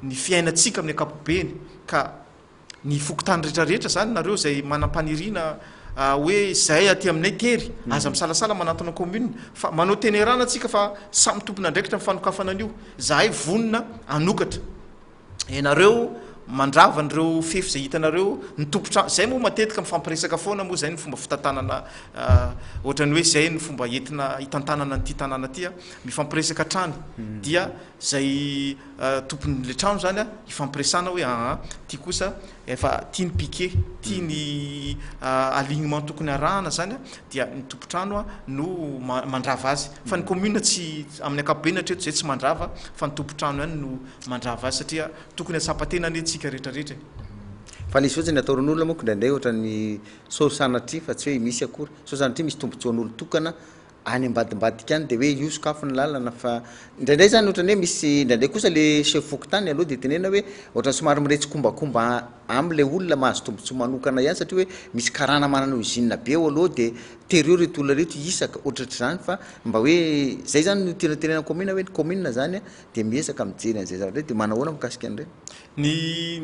ny fiainantsika amin'ny ankapobeny ka. ny fokontany rehetra rehetra zany nareo izay manampaniriana hoe zay aty aminay tery hmm. aza misalasala manatona commune fa manao tenerana atsika fa samy tompona andraikitra ny fanokafana an'io zahay vonona anokatra ianareo mandrava an'ireo fefy izay hitanareo ny tompotra zay moa matetika mifampiresaka foana moa zay ny fomba fitantanana ah, ohatrany hoe zay ny fomba entina hitantanana nyity tanàna tya mifampiresaka hatrany hmm. dia zay tompon le trano zany a ifampiresana hoe aa ty kosa efa ty ny piquet ty ny alignement tokony arahana zany a dia ny tompotrano a no mandrava azy fa ny commune tsy amin'ny akapobeany hatreto zay tsy mandrava fa ny tompotrano ihany no mandrava azy satria tokony atsapatena anie tsika rehetra rehetra e fa le zotsy ny ataorin'olona moko ndraindray ohatran'ny sao sanatria fa tsy hoe misy akory sao sanatria misy tombotsoan'olo tokana any ambadimbadika any dia hoe io sokafy ny lalana fa indraindray zany ohatrany hoe misy indraindray kosa le chef fokontany aloha dia tenenina hoe ohatrany somary miretsikombakomba amle olona mahazo tombotsoa manokana ihany satria hoe misy karana manana usine be ao aloha dia terio reto olona reto hisaka ohatratr'izany fa mba hoe zay zany no tena tenenina commune hoe ny commune zany dia miezaka mijery an'izay zavatra hoe dia manao ahoana mikasika an'ireny. Ny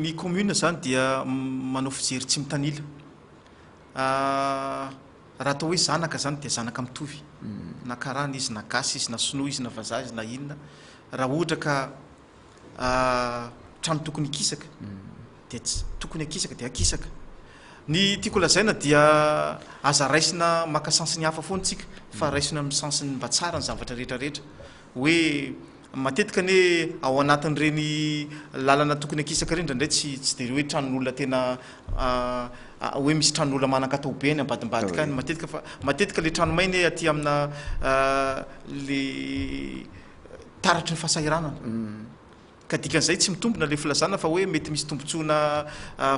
ny commune zany dia manao fijery tsy mitanila. Ahh raha atao hoe zanaka zany dia zanaka mitovy na karana izy na gasy izy na sinoa izy na vazaha izy na inona raha ohatra ka trano tokony hikisaka dia tsy tokony hakisaka dia hakisaka ny tiako lazaina dia aza raisina maka sens ny hafa foana tsika fa raisina amin'ny sens ny mba tsara ny zavatra rehetra rehetra Hoe matetika anie ao anatin'ireny lalana tokony akisaka ireny indraindray tsy tsy dia hoe tranon'olona tena hoe misy tranon'olona manan-katao be any ambadimbadika any matetika fa matetika le trano mainy aty amina le taratry ny fahasahiranana. Mm. Ka dikan'izay tsy mitombina ilay filazana fa hoe mety misy tombotsoana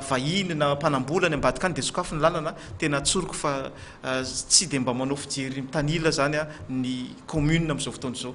vahiny na mpanambola any ambadika any dia sokafy ny lalana, tena tsoriko fa tsy dia mba manao fijery mitanila izany ny commune amin'izao fotoana izao.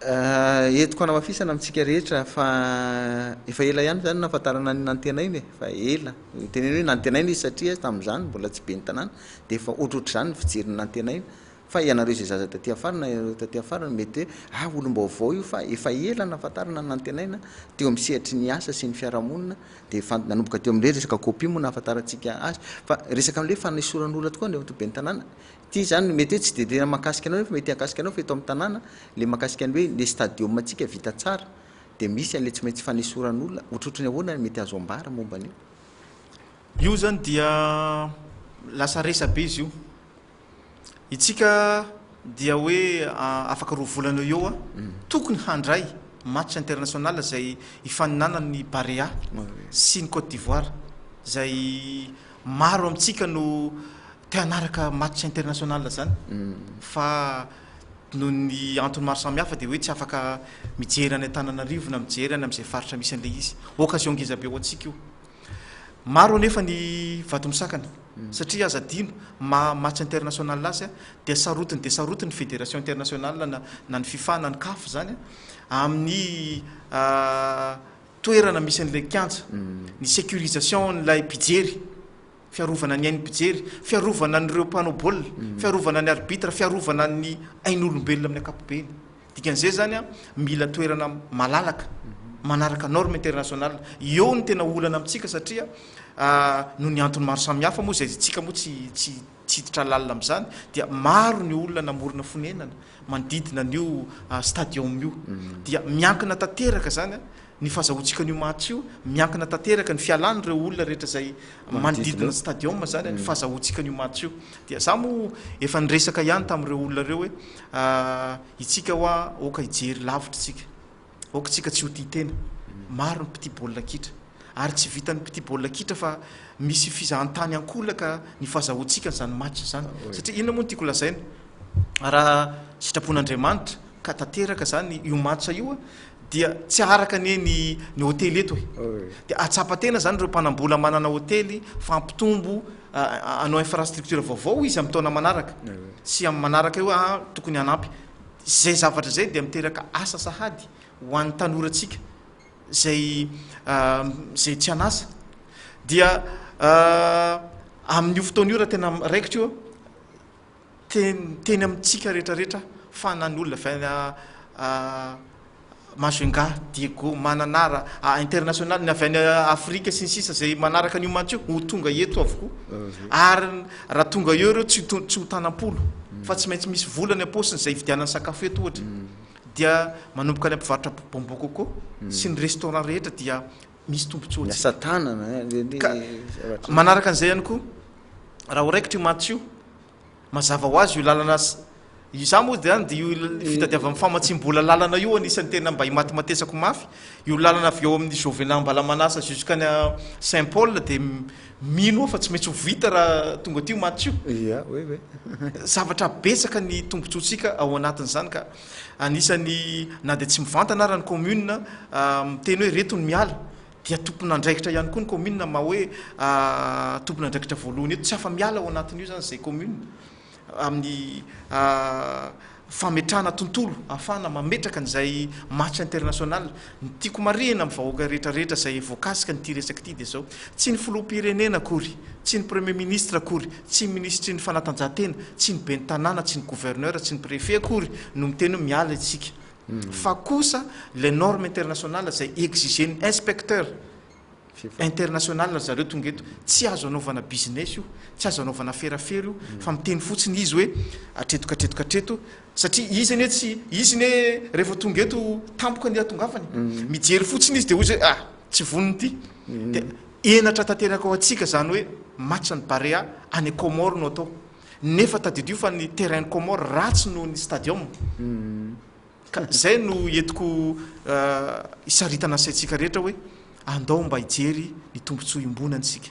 Entiko hanamafisana amintsika rehetra fa efa ela ihany izany no nahafantarana an'i Nantenaina e, fa ela, teneno hoe Nantenaina izy satria tamin'izany mbola tsy ben'ny tanàna dia efa ohatrohatr'izany ny fijerin'i Nantenaina Fa ianareo izay zaza taty afara na ianareo taty afara no mety hoe ah olom-baovao io fa efa ela nahafantarana nantenaina teo amin'ny sehatry ny asa sy ny fiarahamonina dia efa nanomboka teo amin'ilay resaka copie moa nahafantarantsika azy fa resaka amin'ilay fanesoran'olona tokoa ny eto ben'ny tanàna ity izany no mety hoe tsy dia tena mahakasika anao nefa mety hahakasika anao fa eto amin'ny tanàna ilay mahakasika ny hoe ilay stadium antsika vita tsara dia misy an'ilay tsy maintsy fanesoran'olona ohatrohatry ny ahoana ny mety azo ambara momba an'io. Io izany dia lasa resabe izy io. Itsika dia hoe afaka roa volana eo eo tokony handray match international izay hifaninanany ny Barea sy ny Côte d'Ivoire izay maro amintsika no te hanaraka match international izany mm. fa noho ny antony maro samihafa dia hoe tsy afaka mijery any Antananarivo na mijery any amin'izay faritra misy an'ilay izy occasion ngeza be ho antsika io Maro anefa ny vato misakana satria aza adino maha match international azy dia sarotiny dia sarotiny ny federation international na na ny fifa na ny caf izany amin'ny toerana misy an'ilay kianja ny securisation n'ilay mpijery fiarovana ny ain'ny mpijery fiarovana an'ireo mpanao baolina fiarovana ny arbitre fiarovana ny ain'olombelona amin'ny ankapobeny Dikan'izay izany, mila toerana malalaka, manaraka norme internationale. Eo ny tena olana amintsika satria noho ny antony maro samihafa moa izay isika moa tsy tsy tsy hiditra lalina amin'izany dia maro ny olona namorona fonenana manodidina an'io stadium io. Dia miankina tanteraka izany Ny fahazahoantsika an'io match io, miankina tanteraka ny fialan'ireo olona rehetra izay manodidina ny stadium izany ny fahazahoantsika an'io match io. Dia za moa efa niresaka ihany tamin'ireo olona ireo hoe itsika hoa aoka hijery lavitra itsika, aoka itsika tsy ho tia tena. Maro ny mpitia baolina kitra ary tsy vitan'ny mpitia baolina kitra fa misy fizahantany ankolaka ny fahazahoantsika an'izany match izany. Satria inona moa no tiako lazaina? Raha sitrapon'Andriamanitra, ka tanteraka zany io match io dia tsy aharaka anie ny ny hotely eto e dia ahatsapa tena zany ireo mpanambola manana hotely fa ampitombo anao infrastructure vaovao izy amin'ny taona manaraka sy amin'ny manaraka io ah tokony hanampy zay zavatra zay dia miteraka asa sahady ho an'ny tanorantsika zay zay tsy an'asa dia amin'io fotoana io raha tena raikitra io Teny teny amintsika rehetra rehetra fa na ny olona avy any Majunga, Diego, Mananara, international, ny avy any Afrika sy ny sisa izay manaraka an'io match io ho tonga eto avokoa ary raha tonga eo ireo tsy tsy ho tanam-polo fa tsy maintsy misy vola any am-paosiny izay hividianany sakafo eto ohatra dia manomboka any am-pivarotra bonbon coco sy ny restaurant rehetra dia misy tombontsoantsika. Ny asa tanana, ka manaraka an'izay ihany koa, raha ho raikitra io matso io, mazava ho azy io lalana, izaho moa dia dia io fitadiavan'ny famatsiam-bola lalana io anisan'ny tena mba imatimatesako mafy, io lalana avy eo amin'ny Jovenat Ambalamanasa jusqu'any Saint Paul dia mino aho fa tsy maintsy ho vita raha tonga aty io matso io, zavatra betsaka ny tombontsoantsika ao anatin'izany ka. Anisan'ny na dia tsy mivantana ara ny kaominina miteny hoe reto ny miala dia tompon'andraikitra ihany koa ny kaominina maha hoe tompon'andraikitra voalohany eto. Tsy afa-miala ao anatin'io izany izay kaominina amin'ny fametrahana tontolo ahafahana mametraka an'izay match international Ny tiako marihina amin'ny vahoaka rehetra rehetra izay voakasika an'ity resaka ity dia izao, tsy ny filoham-pirenena akory, tsy ny premier ministre akory, tsy ny minisitry ny fanatanjahantena, tsy ny ben'ny tanàna, tsy ny gouverneur, tsy ny préfet akory no miteny hoe miala isika, fa kosa ilay norme internationale izay exiger-n'ny inspecteur, international ry zareo tonga eto tsy azo anaovana business io tsy azo anaovana ferafera io mm. fa miteny fotsiny izy hoe atreto katreto katreto satria izy anie tsy izy ne rehefa tonga eto tampoka ny atongavany mm. mijery fotsiny izy de hoy zay ah tsy voniny ty mm. de enatra tanteraka ao antsika zany hoe matcha ny barea any comore no atao nefa tadidio fa ny terrain comore ratsy noho ny stadium Ka izay no entiko hisaritana ny saintsika rehetra hoe andao mba hijery ny tombontsoa iombonany isika.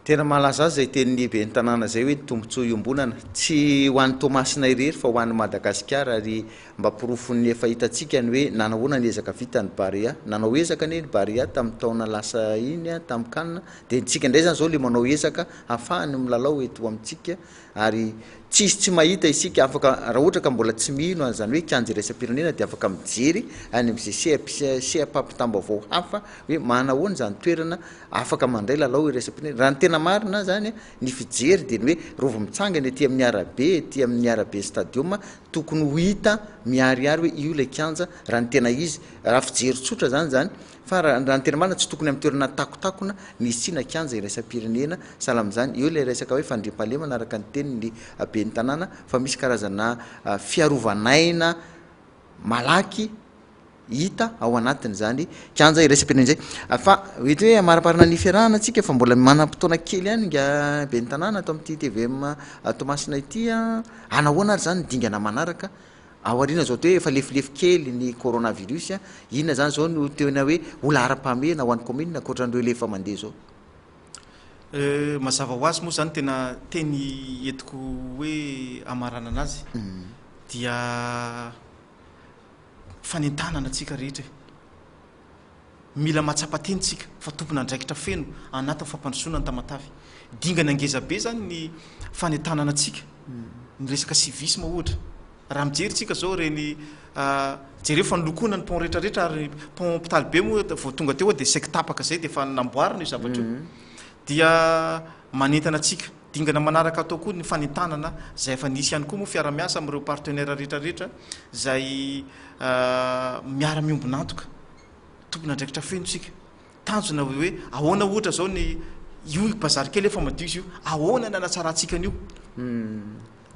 Tena mahalaza ahy izay tenin'ny lehiben'ny tanàna izay hoe ny tombontsoa iombonana. Tsy ho an'i Toamasina irery fa ho an'i Madagasikara ary mba porofon'ny efa hitantsika ny hoe nanahoana ny ezaka vita ny Barea. Nanao ezaka anie ny Barea tamin'ny taona lasa iny tamin'ny Can dia ny tsika indray izany izao ilay manao ezaka hahafahany milalao eto amintsika Ary tsisy tsy mahita isika afaka raha ohatra ka mbola tsy mino an'izany hoe kianja iraisam-pirenena dia afaka mijery any amin'izay sehap sehapampitam-baovao hafa hoe manahoana izany toerana afaka mandray lalao iraisam-pirenena. Raha ny tena marina izany ny fijery dia ny hoe rova mitsangana ety amin'ny arabe ety amin'ny araben'ny stadium tokony ho hita miharihary hoe io ilay kianja raha ny tena izy. Raha fijery tsotra izany izany Fa raha ny tena marina tsy tokony amin'ny toerana takotakona ny hisiana kianja iraisam-pirenena, sahala amin'izany eo ilay resaka hoe fandriampahalemana araka ny tenin'ny ben'ny tanàna fa misy karazana fiarovan'aina malaky hita ao anatin'izany kianja iraisam-pirenena izay. Fa eto hoe hamariparina ny fiarahana tsika fa mbola manam-potoana kely ihany nga ben'ny tanàna ato amin'ity tvm Toamasina ity an! Hanahoana ary izany ny dingana manaraka? Ao aoriana izao dia hoe efa lefilefy kely ny coronavirus, inona izany izao no tena hoe ho laharam-pahamehana ho an'ny kaominina ankoatran'ireo lefa mandeha izao? Mazava ho azy moa izany tena teny entiko hoe hamaranana azy dia fanentanana antsika rehetra e! Mila mahatsapa tena isika fa tompon'andraikitra feno anatin'ny fampandrosoana ny Tamatave. Dingana ngeza be izany ny fanentanana antsika, ny resaka civisme ohatra. Raha mijery isika izao ireny, jereo fa nolokoina ny pont rehetra rehetra ary pont hopitaly be moa vao tonga teo aho dia saiky tapaka izay dia efa namboarina io zavatra io. Dia manentana antsika. Dingana manaraka atao koa ny fanentanana izay efa nisy ihany koa moa fiara-miasa amin'ireo partenaires rehetra rehetra izay miara-miombon'antoka. Tompon'andraikitra feno isika. Tanjona hoe ahoana ohatra izao ny io bazary kely efa madio izy io, ahoana ny hanatsarantsika an'io.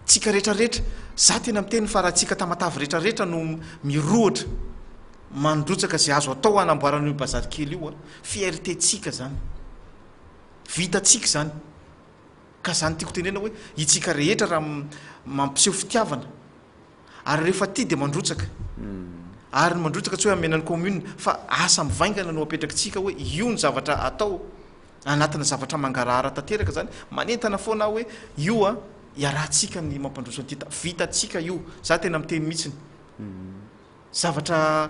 Tsika rehetra rehetra. Izaho tena miteny fa raha tsika Tamatave rehetra rehetra no mirohotra mandrotsaka izay azo atao hanamboarana io bazary kely io, fierté-tsika izany. Vitantsika izany. Ka izany tiako tenena hoe itsika rehetra raha mampiseho fitiavana ary rehefa tia dia mandrotsaka. Ary ny mandrotsaka tsy hoe hamena ny commune fa asa mivaingana no apetrakitsika hoe io ny zavatra atao anatina zavatra mangarahara tanteraka izany manentana foana aho hoe io a iarahantsika ny mampandroso an'ity tany. Vitantsika io. Za tena miteny mihitsiny. Zavatra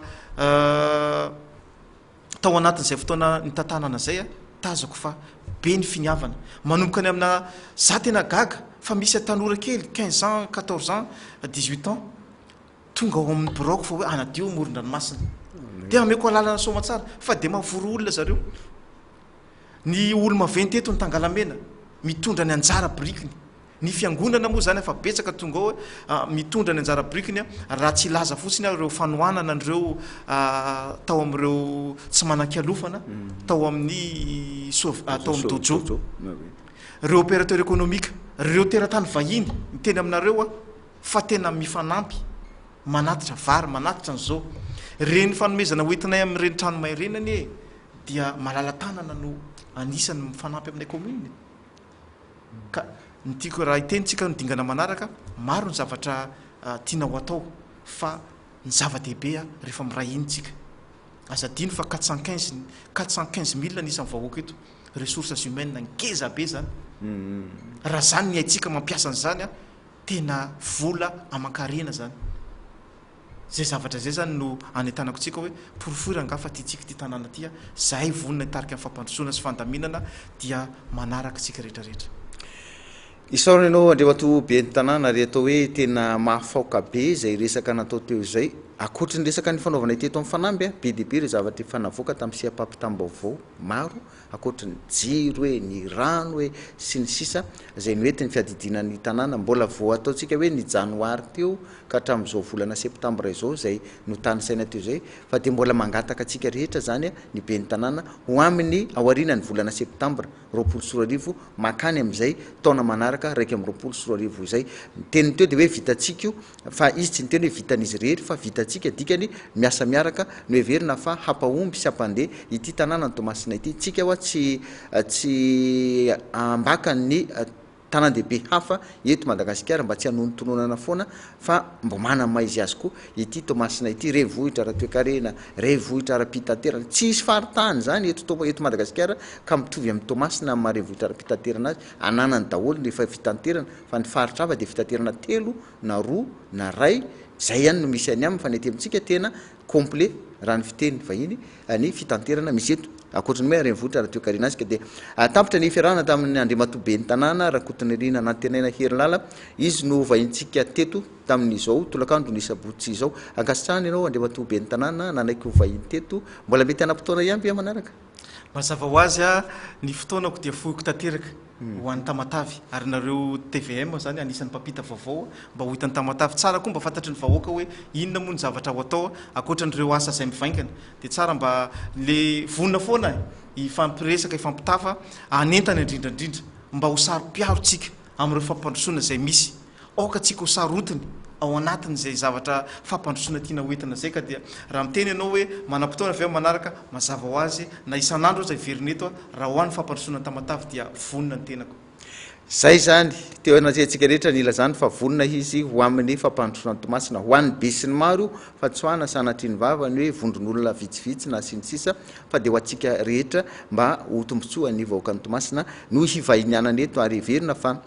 tao anatin'izay fotoana nitantanana izay a tazako fa be ny finiavana manomboka ny amina za tena gaga fa misy atanora kely quinze ans quatorze ans dix huit ans tonga ao amin'ny biraoko fa hoe anadio moron-dranomasina dia ameko alalana soamatsara fa dia mavory olona zareo ny olo maventy eto ny tangalamena mitondra ny anjara birikiny Ny fiangonana moa izany afa betsaka tonga ao mitondra ny anjara birikiny raha tsy hilaza fotsiny aho ireo fanohanana an'ireo tao amin'ireo tsy manan-kialofana tao amin'ny soa tao amin'ny dojo ireo opérateur économique ireo teratany vahiny miteny aminareo aho fa tena mifanampy manatitra vary manatitra an'izao reny fanomezana hoentinay amin'ireny trano mairenany e dia malala tanana no anisany mifanampy aminay commune Ka ny tiako raha hiteny tsika ny dingana manaraka, maro ny zavatra tiana ho atao fa ny zava-dehibe rehefa miray hiny tsika. Aza adino fa quatre cent quinze quatre cent quinze mille ny isan'ny vahoaka eto, ressources humaines ngeza be zany. Raha zany ny haitsika mampiasa an'izany, tena vola aman-karena zany. Izay zavatra izay izany no anentanako antsika hoe porofoira angaha fa tiantsika ity tanàna ity, izahay vonona hitarika amin'ny fampandrosoana sy fandaminana dia manaraka isika rehetrarehetra. Isaorana ianao Andriamatoa Ben'ny Tanàna ary atao hoe tena mahafaoka be izay resaka natao teo izay. Ankoatry ny resaka nifanaovanay teto amin'ny fanamby, be dia be ireo zavatra efa navoaka tamin'ny seham-pampitam-baovao maro ankoatry ny jiro e, ny rano e, sy ny sisa izay noentin'ny fiadidiana ny tanàna, mbola vao ataontsika hoe ny janoary teo ka hatramin'izao volana septambra izao izay notanisaina teo izay fa dia mbola mangataka antsika rehetra izany ny ben'ny tanàna ho amin'ny aorianan'ny volana septambra roapolo sy roa arivo mankany amin'izay taona manaraka iraika amby roapolo sy roa arivo izay ny teniny teo dia hoe vitantsika io Fa izy tsy niteny hoe vitan'izy irery fa vitantsika, dikany miasa miaraka. Noheverina fa hampahomby sy hampandeha ity tanàna ny Toamasina ity. Tsika ho'a tsy tsy ambaka ny tanàn-dehibe hafa eto Madagasikara mba tsy hanonontononana foana fa mba manana ny maha izy azy koa ity Toamasina ity. Renivohitra ara-toekarena, renivohitra ara-pitaterana. Tsy hisy faritany izany eto eto Madagasikara ka mitovy amin'i Toamasina amin'ny maha renivohitra ara-pitaterana azy. Ananany daholo ny efa fitanterana fa ny faritra hafa dia fitanterana telo na roa na ray, izay ihany no misy any aminy fa ny aty amintsika tena complet raha ny fiteny vahiny ny fitanterana misy eto. Ankoatry ny hoe renivohitra raha toekarena asika dia tampitra ny fiarahana tamin' Andriamatoa Ben'ny Tanàna Rakotonirina Nantenaina Herilala, izy no vahintsika teto tamin' izao tolakandron' ny sabotsy izao. Ankasitrahana ianao Andriamatoa Ben'ny Tanàna nanaiky ho vahiny teto, mbola mety hanam-potoana ihany ve amanaraka? Mazava ho azy a, ny fotoanako dia foiko tanteraka ho an'i Tamatave, ary nareo tvm zany anisan'ny mpampita vaovao mba ho hitan'i Tamatave tsara koa mba fantatry ny vahoaka hoe inona moa ny zavatra ho atao ankoatra an'ireo asa izay mivaingana dia tsara mba le vonona foana hifampiresaka hifampitafa hanentana indrindrandrindra mba ho saro-piaro tsika amin'ireo fampandrosoana izay misy Aoka antsika ho sarotiny ao anatin'izay zavatra fampandrosoana tiana hoentina izay ka dia raha miteny ianao hoe manam-potoana avy amin'ny manaraka, mazava ho azy na isan'andro aza heverina eto aho, raha ho ahy ny fampandrosoana ny Tamatave dia vonona ny tenako. Izay izany, teo anatrehantsika rehetra ny hilazany fa vonona izy ho amin'ny fampandrosoana ny Toamasina. Ho an'ny besinimaro io fantsoana sanatrian'ny vava ny hoe vondron'olona vitsivitsy na sy ny sisa fa dia ho antsika rehetra mba ho tombontsoan'ny vahoakan'i Toamasina no hivahinianana eto ary heverina fa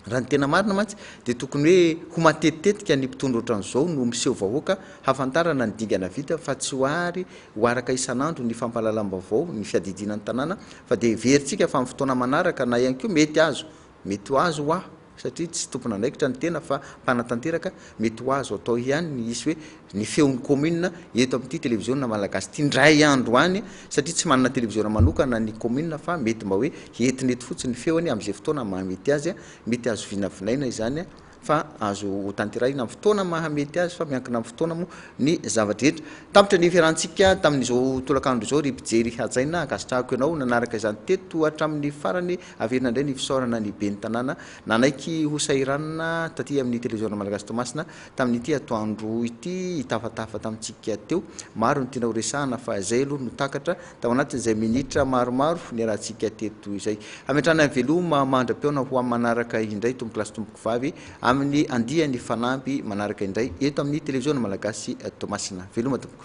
Raha ny tena marina mantsy dia tokony hoe ho matetitetika ny mpitondra ohatran'izao no miseho vahoaka hafantarana ny dingana vita fa tsy ho ary ho araka isan'andro ny fampahalalam-baovao ny fiadidiana ny tanàna fa dia heverintsika fa amin'ny fotoana manaraka na ihany koa mety azo mety ho azo hoa satria tsy tompon'andraikitra ny tena fa mpanatanteraka mety ho azo atao ihany ny hisy hoe ny feon'ny commune eto amin'ity televiziona malagasy ity indray andro any satria tsy manana televiziona manokana ny commune fa mety mba hoe entina eto fotsiny ny feony amin'izay fotoana mahamety azy, mety azo vinavinaina izany fa azo hotanterahina amin'ny fotoana mahamety azy fa miankina amin'ny fotoana moa ny zava-drehetra. Tampitra ny fiarahantsika tamin'izao tolakandro izao ry mpijery hajaina, ankasitrahako ianao nanaraka izany teto hatramin'ny farany, averina indray ny fisaorana ny ben'ny tanàna nanaiky hosahiranina taty amin'ny televiziona malagasy Toamasina Tamin'ity atoandro ity hitafatafa tamintsika teo, maro ny tiana horesahana fa izay aloha no takatra tao anatin'izay minitra maromaro niarahantsika teto izay. Hametrahana ny veloma mandra-pihaona ho amin'ny manaraka indray tompokolahy sy tompokovavy amin'ny andiany fanamby manaraka indray eto amin'ny Televiziona Malagasy Toamasina. Veloma tompoko.